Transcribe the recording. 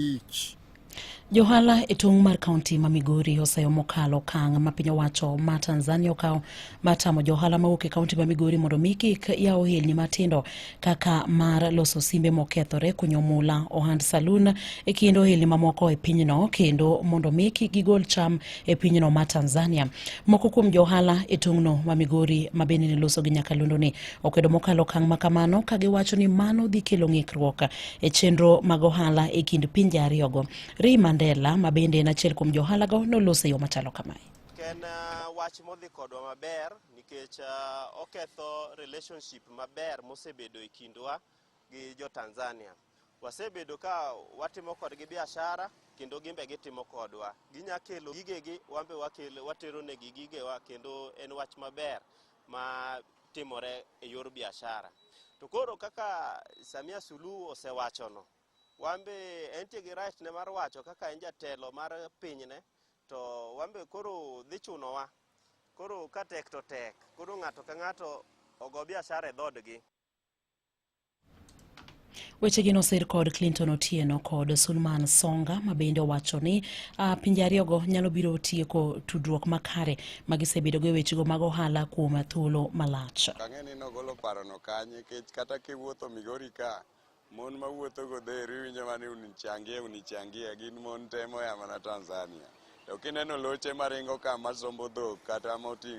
each. Johala e tong' mar kaunti ma Migori oseyo mokalo okang' ma piny owacho ma Tanzania okawo ma tamo johala mawuok e kaunti ma Migori mondo mi kik yaw ohelni matindo kaka mar loso simbe mokethore, kunyo mula, ohand salun e kind ohelni mamoko e pinyno kendo mondo mi kik gigol cham e pinyno ma Tanzania. Moko kuom johala e tong'no ma Migori ma bende ne loso gi Nyakalondo ni okwedo mokalo okang' ma kamano ka giwacho ni mano dhi kelo ng'ikruok e chenro mag ohala e kind pinje ariyogo. Ri Mandela ma bende en achiel kuom johalago noloso e yo machalo kamae. En uh, wach modhi kodwa maber nikech uh, oketho relationship maber mosebedo e kindwa gi jo Tanzania. Wasebedo ka watimo kodgi biashara kendo gimbe gitimo kodwa. Ginya kelo gigegi, wambe watero negi gigewa kendo en wach maber. ma timore e yor biashara. To koro kaka Samia Suluhu osewachono, wan be entie gi right ne mar wacho kaka en jatelo mar pinyne, to wan be koro dhi chunowa. Koro ka tek to tek, koro ng'ato ka ng'ato ogo biashara e dhoodgi. Wechegi nosir kod Clinton Otieno kod Sulman Songa ma bende owacho ni uh, pinje ariyogo nyalo biro tieko tudruok makare ma gisebedogo e wechego mag ohala kuom thuolo malach. Ang'e ni nogolo parono kanye kech kata kiwuotho Migori ka mon ma wuotho godhero iwinjo mana ni unichangie unichangie gin mon temo ya mana Tanzania. To kineno loche maringo ka masombo dhok kata moting'o